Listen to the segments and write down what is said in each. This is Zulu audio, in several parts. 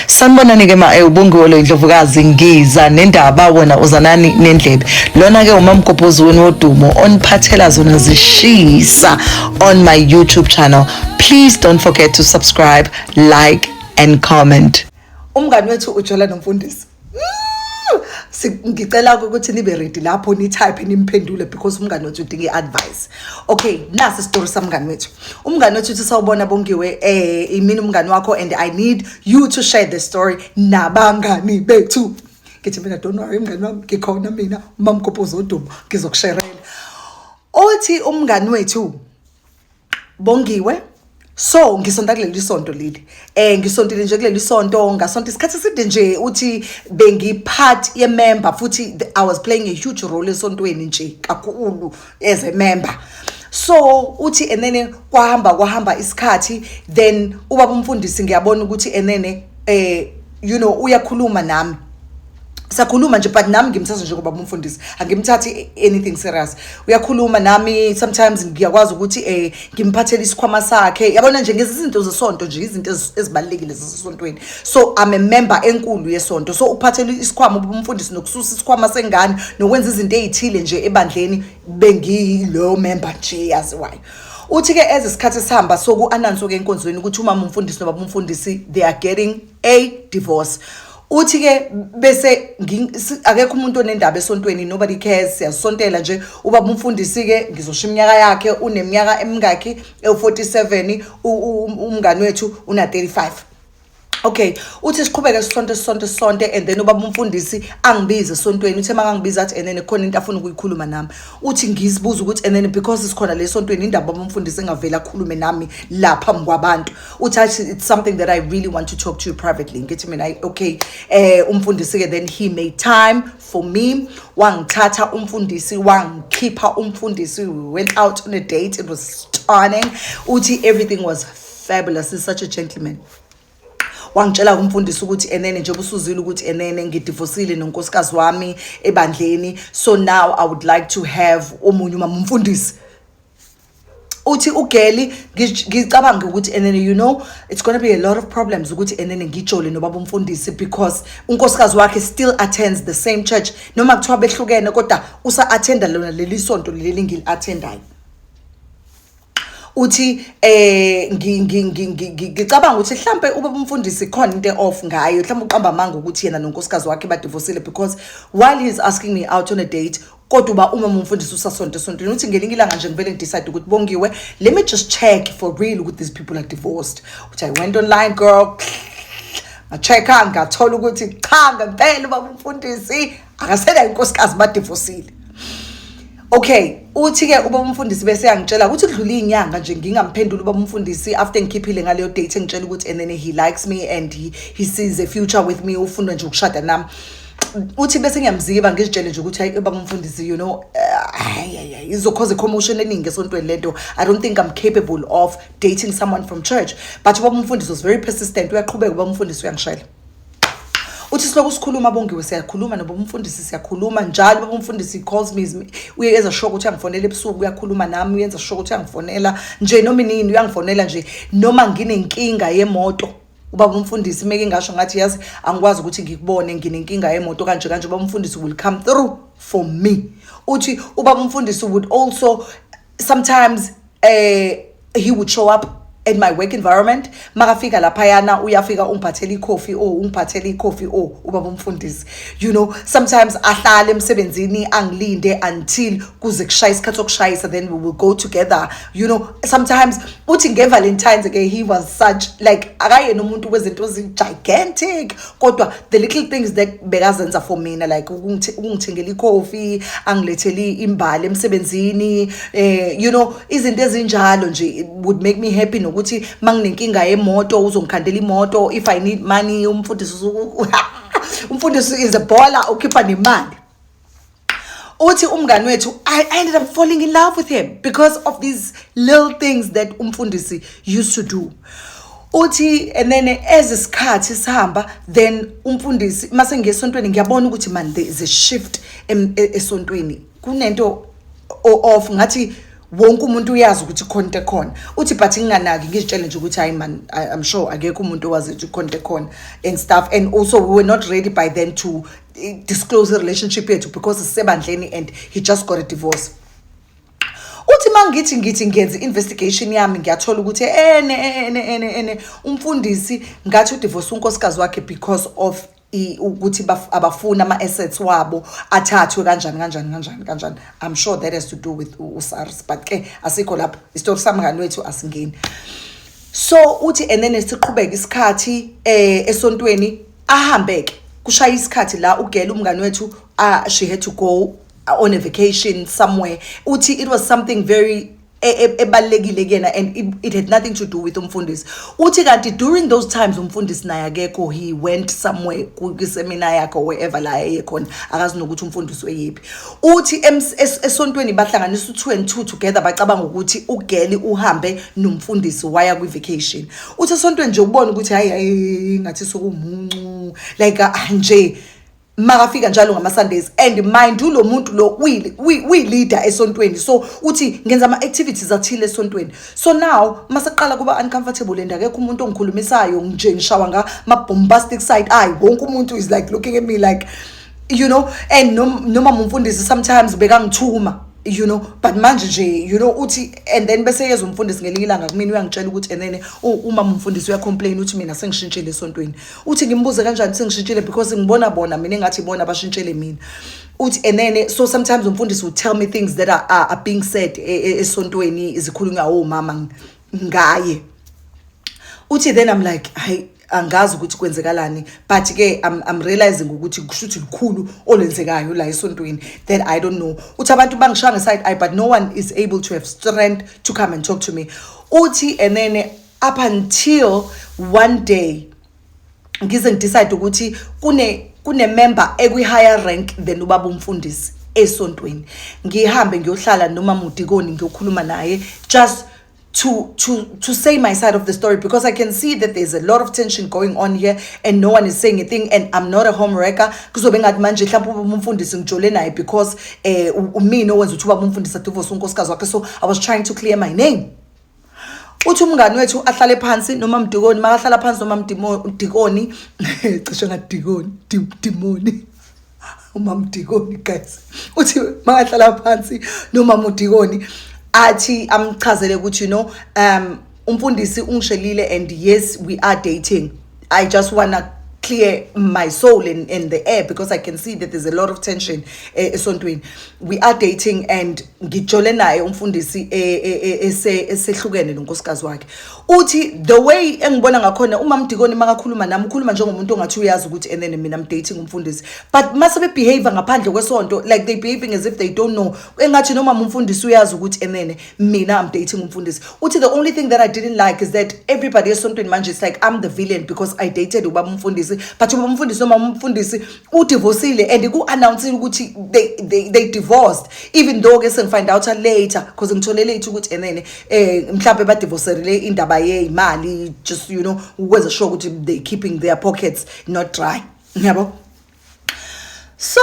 sanibonani ke ma eh, ubongiwe lo indlovukazi ngiza nendaba wena uzanani nendlebe lona ke umamgobhozi wenu wodumo oniphathela zona zishisa on my youtube channel please don't forget to subscribe like and comment umngani wethu ujola nomfundisi ngicela ukuthi nibe ready lapho nitype nimphendule because umngane wethu udinga i-advice okay nasi isitori samngane wethu umngane wethu uthi sawubona bongiwe eh imini umngane wakho and i need you to share the story nabangani bethu ngithi mina don't worry mngane wami ngikhona mina umamgobho uzoduma ngizokusherela othi umngane wethu Bongiwe so ngisonta kuleli sonto leli eh ngisontile nje kuleli sonto ngasonta isikhathi eside nje uthi bengi part ye member futhi i was playing a huge role esontweni nje kakhulu as a member so uthi enene kwahamba kwahamba isikhathi then ubaba umfundisi ngiyabona ukuthi enene eh you know uyakhuluma nami sakhuluma nje but nami ngimthatha njengoba umfundisi angimthathi anything serious uyakhuluma nami sometimes ngiyakwazi ukuthi eh ngimphathele isikhwama sakhe yabona nje ngezinto zesonto nje izinto ezibalekile zesontweni so i'm a member enkulu yesonto so ukuphathela isikhwama umfundisi nokususa isikhwama sengane nokwenza izinto ezithile nje ebandleni bengiyilo member nje yaziwayo uthi ke eze isikhathi sihamba soku announce ke enkonzweni ukuthi umama umfundisi nobaba umfundisi they are getting a divorce uthi ke bese akekho umuntu onendaba esontweni nobody cares siyasontela nje uba umfundisi ke ngizosho iminyaka yakhe uneminyaka emingakhi ewu47 umngani wethu una 35 Okay uthi siqhubeke sisonto sisonto sisonto and then ubaba umfundisi angibize esontweni uthe makangibiza athi enene khona into afuna ukuyikhuluma nami uthi ngizibuza ukuthi enene because sikhona lesontweni indaba baba umfundisi engavela akhulume nami lapha ngikwabantu uthi athi it's something that i really want to talk to you privately ngithi mina "Ay, okay eh umfundisi-ke then he made time for me wangithatha umfundisi wangikhipha umfundisi we went out on a date it was stunning uthi everything was fabulous he's such a gentleman wangitshela kumfundisi ukuthi enene nje busuzile ukuthi enene ngidivosile nonkosikazi wami ebandleni so now i would like to have omunye umama umfundisi uthi ugeli ngicabanga ukuthi enene you know it's going to be a lot of problems ukuthi enene ngijole nobaba umfundisi because unkosikazi wakhe still attends the same church noma kuthiwa behlukene kodwa usa attenda lona leli sonto leli ngili attendayo uthi eh ngicabanga ukuthi mhlambe ube umfundisi khona into off ngayo mhlambe uqamba amanga ukuthi yena nonkosikazi wakhe badivosile because while he is asking me out on a date kodwa uba umama umfundisi usasonto esontweni uthi ngelinye ilanga nje ngivele ngidecide ukuthi bongiwe let me just check for real ukuthi these people are divorced uthi i went online girl ngacheck-a ngathola ukuthi cha ngempela ubaba umfundisi akasela inkosikazi badivosile okay uthi-ke uba umfundisi bese yangitshela ukuthi kudlula iy'nyanga nje ngingamphenduli uba umfundisi after ngikhiphile ngaleyo date engitshela ukuthi and then he likes me and he, he sees a future with me ufuna nje ukushada nami uthi bese ngiyamziba ngizitshele nje ukuthi hayi baba umfundisi you know hayi eh, hayi izokhoza commotion eningi esontweni lento i don't think i'm capable of dating someone from church but baba umfundisi was very persistent uyaqhubeka baba umfundisi uyangishayela uthi siloku sikhuluma bongiwe siyakhuluma noba umfundisi siyakhuluma njalo baba umfundisi calls me uye enza sure ukuthi angifonela ebusuku uyakhuluma nami uyenza sure ukuthi angifonela nje noma inini uyangifonela nje noma nginenkinga yemoto ubaba umfundisi meke ngasho ngathi yazi angikwazi ukuthi ngikubone nginenkinga yemoto kanje kanje ubaba umfundisi will come through for me uthi ubaba umfundisi would also sometimes uh, he would show up at my work environment makafika laphayana uyafika ungiphathela ikhofi o ungiphathela ikhofi o ubaba umfundisi you know sometimes ahlale emsebenzini angilinde until kuze kushaye isikhathi sokushayisa then we will go together you know sometimes uthi ngevalentines ke he was such like akayena umuntu wezinto gigantic kodwa the little things that bekazenza for mina like ukungithengela ikhofi angilethele imbali emsebenzini eh you know izinto ezinjalo nje would make me happy nokuthi manginenkinga yemoto uzongikhandela imoto if i need money umfundisi umfundisi is a baller ukhipha nemali uthi umngani wethu I, i ended up falling in love with him because of these little things that umfundisi used to do uthi and then as isikhathi sihamba then umfundisi mase ngesontweni ngiyabona ukuthi man there is a shift e, esontweni kunento off ngathi wonke umuntu uyazi ukuthi khona into ekhona uthi but nginganaki ngizitshele nje ukuthi hayi man i'm sure akekho umuntu owazi ukuthi khona into ekhona and stuff and also we were not ready by then to disclose i-relationship yethu because sisebandleni and he just got a divorce uthi uma ngithi ngithi ngenza i-investigation yami ngiyathola ukuthi ene ene ene ene umfundisi ngathi udivorce unkosikazi wakhe because of ukuthi abafuni ama-assets wabo athathwe kanjani kanjani kanjani kanjani i'm sure that has to do with usars but ke asikho lapho isitori samngani wethu asingeni so uthi and then siqhubeke isikhathi um esontweni ahambe ke kushaya isikhathi la ugela umngane wethu ah, she had to go ah, on a vacation somewhere uthi it was something very e- e- ebalulekile kuyena and it- it had nothing to do with umfundisi uthi kanti during those times umfundisi naye akekho he went somewhere ku- kwisemina yakhe or wherever la eye khona akazi nokuthi umfundisi weyiphi uthi ems- es- esontweni bahlanganisa u-two and two together bacabanga ukuthi ugeli uhambe nomfundisi waya kwi-vacation uthi esontweni nje ubona ukuthi hayi hayi ngathi sokumuncu like ah, nje makafika njalo ngama Sundays and mind you lo muntu lo uyi leader esontweni so uthi ngenza ama activities athile esontweni so now maseqala kuba uncomfortable and akekho umuntu ongikhulumisayo nje ngishawa nga ma bombastic side ay wonke umuntu is like looking at me like you know and noma mumfundisi sometimes bekangithuma you know but manje nje you know uthi and then bese yeza umfundisi ngelinye ilanga kumina uyangitshela ukuthi and then uma umfundisi uyacomplain uthi mina sengishintshile esontweni uthi ngimbuze kanjani sengishintshile because ngibona bona mina engathi bona bashintshele mina uthi and then so sometimes umfundisi will tell me things that are, are, are being said e, e, esontweni izikhulunywa omama ngaye uthi then i'm like hayi angazi ukuthi kwenzekalani but ke I'm, I'm realizing ukuthi kushuthi likhulu olenzekayo la esontweni that I don't know uthi abantu bangishaya ngeside eye but no one is able to have strength to come and talk to me uthi and then up until one day ngize ngidecide ukuthi kune kune member ekwi higher rank than ubaba umfundisi esontweni ngihambe ngiyohlala noma mudikoni ngiyokhuluma naye just to to to say my side of the story because I can see that there's a lot of tension going on here and no one is saying a thing and I'm not a home wrecker kuzobe ngathi manje mhlawumbe umfundisi ngijole naye because eh umina owenza ukuthi uba umfundisi adivorce unkosikazi wakhe so I was trying to clear my name uthi umngani wethu ahlale phansi noma mdikoni makahlala phansi noma mdikoni cishe ngadikoni dimoni umama udikoni guys uthi makahlala phansi nomama udikoni athi amchazele ukuthi you know um umfundisi ungishelile and yes we are dating i just wanna clear my soul in, in the air because I can see that there's a lot of tension eh, esontweni we are dating and ngijole naye umfundisi eh, eh, esehlukene nonkosikazi wakhe uthi the way engibona ngakhona umama Dikoni makakhuluma nami ukhuluma njengomuntu ongathi uyazi ukuthi and then mina I'm dating umfundisi but mase be behave ngaphandle kwesonto like they behaving as if they don't know engathi noma umfundisi uyazi ukuthi and then mina I'm dating umfundisi uthi the only thing that I didn't like is that everybody esontweni manje it's like I'm the villain because I dated ubaba umfundisi but ubaba umfundisi noma umfundisi udivosile and ku-announcile ukuthi they, they, they divorced even though ke sengifind out later because ngithole late ukuthi enene um eh, mhlawumbe badivoserile indaba yeyimali just you know ukwenza sure ukuthi they keeping their pockets not dry ngiyabo so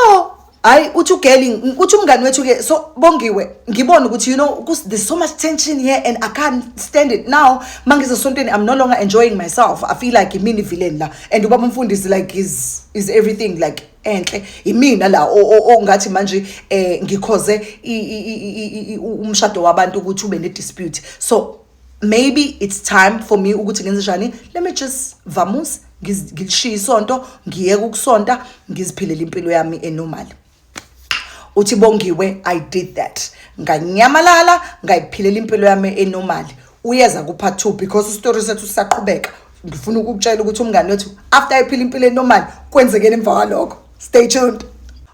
hayi uthi ugeli uthi umngani wethu ke so bongiwe ngibona ukuthi you know there's so much tension here and i can't stand it now mangizesontweni i'm no longer enjoying myself i feel like imini villain la and ubaba umfundisi like is is everything like enhle imina la ongathi manje eh ngikhoze umshado wabantu ukuthi ube ne dispute so maybe it's time for me ukuthi ngenze njani let me just vamus ngilishiye isonto ngiyeke ukusonta ngiziphilela impilo yami enormal uthi bongiwe i did that nganyamalala ngayiphilela impilo yami enormali uyeza kupha two because istory sethu sisaqhubeka ngifuna ukukutshela ukuthi umngane wethu after ayiphila impilo enormali kwenzekeni emva kwalokho stay tuned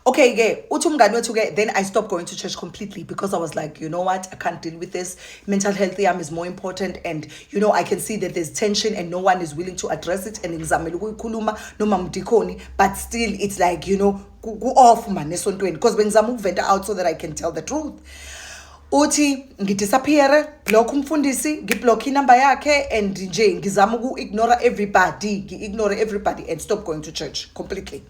okay ke uthi umngane wethu ke then i stopped going to church completely because i was like you know what i can't deal with this mental health yam is more important and you know i can see that there's tension and no one is willing to address it and ngizamele ukuyikhuluma noma mdikhoni but still it's like you know ku-off mani esontweni because bengizama ukuventa out so that i can tell the truth uthi ngidisappeare block umfundisi ngiblock inumber yakhe and nje ngizama uku-ignora everybody ngi-ignore everybody and stop going to church completely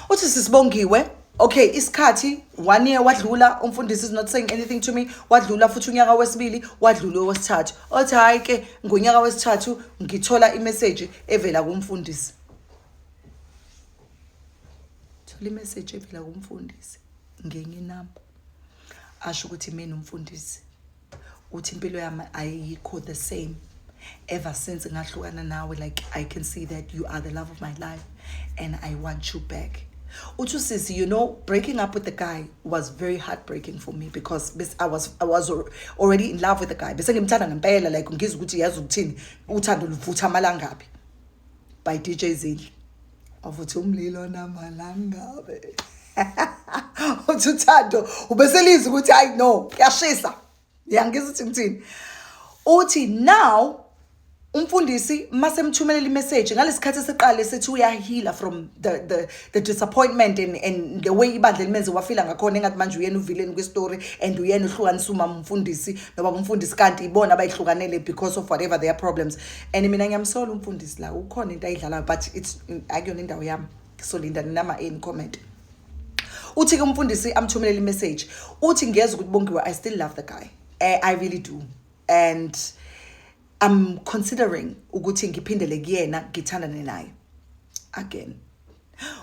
uthi sisibongiwe okay isikhathi one year wadlula umfundisi is not saying anything to me wadlula futhi unyaka wesibili wadlula owesithathu othi hhayi ke ngonyaka wesithathu ngithola imeseji evela kumfundisi thola imeseji evela kumfundisi ngenye inamba asho ukuthi mina umfundisi uthi impilo yami ayikho the same ever since ngahlukana nawe like i can see that you are the love of my life and i want you back uthi usisi you know breaking up with the guy was very heartbreaking for me because bes, I, was, I was already in love with the guy bese ngimthanda ngempela like ngizwa ukuthi yazi ukuthini uthando luvutha amalangaphi by dj zidle wavuthi umlilo namalangabe uthi uthando ubeselizi ukuthi hayi no kuyashisa yangizwa ukuthi ngithini uthi now umfundisi masemthumelela imeseji ngalesikhathi esiqale sethi uyahila from the, the, the disappointment and, and the way ibandla elimenze wafila ngakhona engathi manje uyena uvileni kwistory and uyena uhlukanisa umama umfundisi nobaba umfundisi kanti ibona abayihlukanele because of whatever their problems and mina ngiyamsola umfundisi la ukhona into ayidlalayo but it's akuyona indawo yami ngisolinda ninama in comment uthi ke umfundisi amthumelele imessage uthi ngiyeza ukuthi bongiwe i still love the guy eh, i really do and i'm considering ukuthi ngiphindele kuyena ngithandane naye again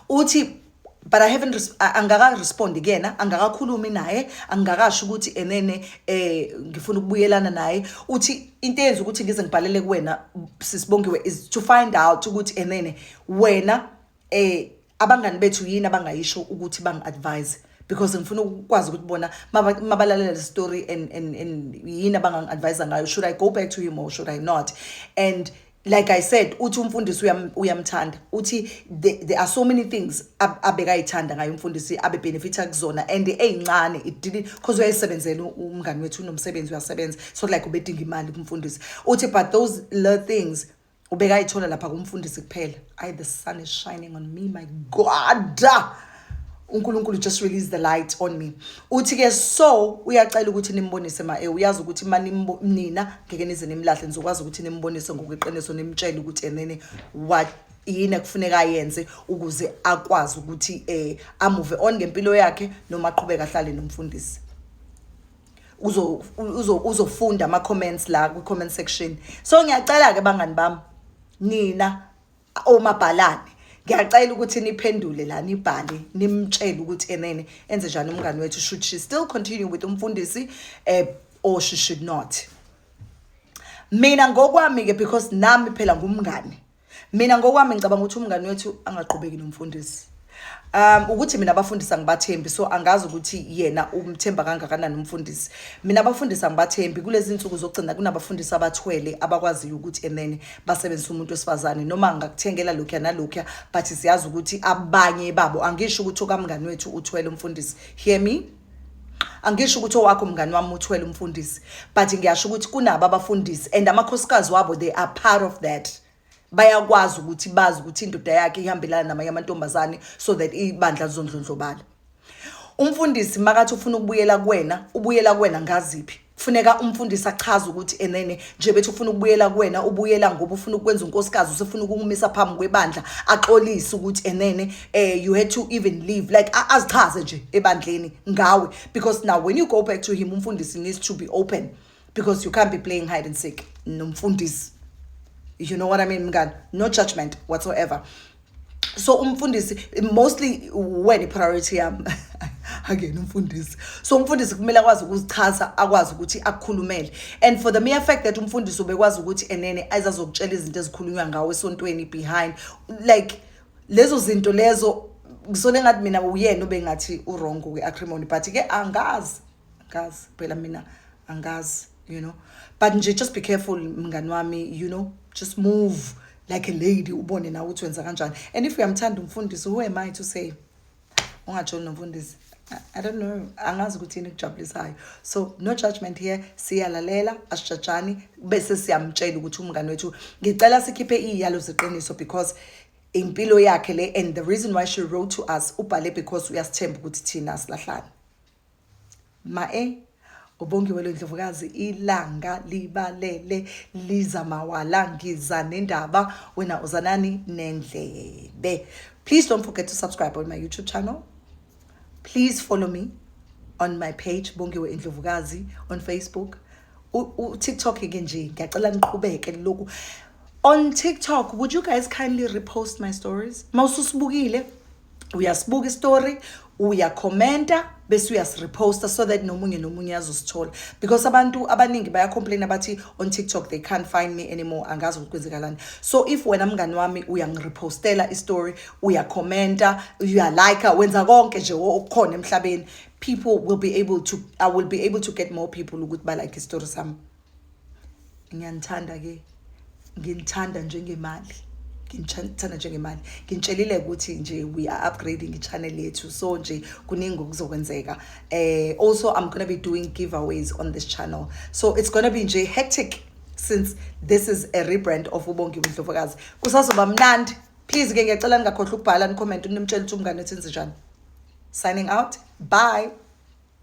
uthi but i haven't angakarespondi kuyena angakakhulumi naye angikakasho ukuthi enene eh ngifuna ukubuyelana naye uthi into eyenza ukuthi ngize ngibhalele kuwena sisibongiwe is to find out ukuthi enene wena eh abangani bethu yini abangayisho ukuthi bangi-advise because ngifuna ukwazi ukuthi bona mabalalela le story and and and yini abangangi-advise ngayo should i go back to him or should i not and like i said uthi umfundisi uyamthanda uthi there are so many things abekayithanda ngayo umfundisi abebenefitha kuzona and eyincane it didn't because uyayisebenzela umngani wethu unomsebenzi uyasebenza so like ubedinga imali kumfundisi uthi but those little things ubekayithola lapha kumfundisi kuphela i the sun is shining on me my god uNkulunkulu just release the light on me uthi ke so uyacela ukuthi nimbonise ma eh, uyazi ukuthi mani nina ngeke nize nimlahle nizokwazi ukuthi nimbonise ngokweqiniso nimtshele ukuthi enene what yini ekufuneka ayenze ukuze akwazi ukuthi eh amuve on ngempilo yakhe noma aqhubeka ahlale nomfundisi uzo uzo uzofunda ama comments la ku comment section so ngiyacela ke bangani bami nina omabhalane ngiyacela ukuthi niphendule la nibhale nimtshele ukuthi enene enze njani umngane wethu should she still continue with umfundisi eh, or she should not mina ngokwami-ke because nami phela ngumngane mina ngokwami ngicabanga ukuthi umngane wethu angaqhubeki nomfundisi um ukuthi mina abafundisi angibathembi so angazi ukuthi yena umthemba kangakanani umfundisi mina abafundisi angibathembi kulezi nsuku zokugcina kunabafundisi abathwele abakwaziyo ukuthi enene basebenzisa umuntu wesifazane noma ngakuthengela lokhuya nalokhuya but siyazi ukuthi abanye babo angisho ukuthi okamngani wethu uthwele umfundisi hear me angisho ukuthi owakho mngani wami uthwele umfundisi but ngiyasho ukuthi kunabo abafundisi and amakhosikazi wabo they are part of that bayakwazi ukuthi bazi ukuthi indoda yakhe ihambelana namanye amantombazane so that ibandla lizondlondlobala umfundisi makathi ufuna ukubuyela kuwena ubuyela kuwena ngaziphi kufuneka umfundisi achaze ukuthi enene nje bethi ufuna ukubuyela kuwena ubuyela ngoba ufuna ukwenza unkosikazi usefuna ukumisa phambi kwebandla axolise ukuthi enene eh you had to even leave like azichaze nje ebandleni ngawe because now when you go back to him umfundisi needs to be open because you can't be playing hide and seek nomfundisi you know what i mean mngani no judgment whatsoever so umfundisi mostly when i-priority yam angena umfundisi so umfundisi kumele akwazi ukuzichaza akwazi ukuthi akukhulumele and for the mere fact that umfundisi ubekwazi ukuthi enene azazokutshela izinto ezikhulunywa ngawo esontweni behind like lezo zinto lezo ngisole ngathi mina uyena ubengathi urongo kwi-acrimony but-ke angazi kazi phela mina angazi you know but nje just be careful mngani wami you know just move like a lady ubone nawe ukuthi wenza kanjani and if uyamthanda umfundisi who am i to say ungajoli nomfundisi I don't know angazi ukuthi yini kujabulisayo so no judgment here siyalalela asijajani bese siyamtshela ukuthi umngane wethu ngicela sikhiphe iyalo zeqiniso because impilo yakhe le and the reason why she wrote to us ubhale because uyasithemba ukuthi thina silahlane Mae uBongiwe lwendlovukazi ilanga libalele liza mawala ngiza nendaba wena uzanani nendlebe please don't forget to subscribe on my youtube channel please follow me on my page Bongiwe Indlovukazi on Facebook u-TikTok ke nje ngiyacela niqhubeke lokhu on TikTok would you guys kindly repost my stories mawususibukile uyasibuka istory uyakhomenta bese uyasireposta so that nomunye nomunye azosithola because abantu abaningi bayacomplaina bathi on tiktok they can't find me anymore angazi ukuthi kwenzekalani so if wena mngani wami uyangirepostela istory uyakhomenta uyalike wenza konke nje okukhona emhlabeni people will be able to i will be able to get more people ukuthi balike istory sami ngiyanithanda ke nginithanda njengemali ngithanda njengemali ngitshelile ukuthi nje we are upgrading i-channel yethu so nje kuningi okuzokwenzeka eh also i'm gonna be doing giveaways on this channel so it's gonna be nje hectic since this is a rebrand of ubongiwe ndlovukazi kusazoba mnandi please ke ngiyacela ningakhohlwa ukubhala nicomment nimtshela ukuthi umngane wethu enze njani signing out bye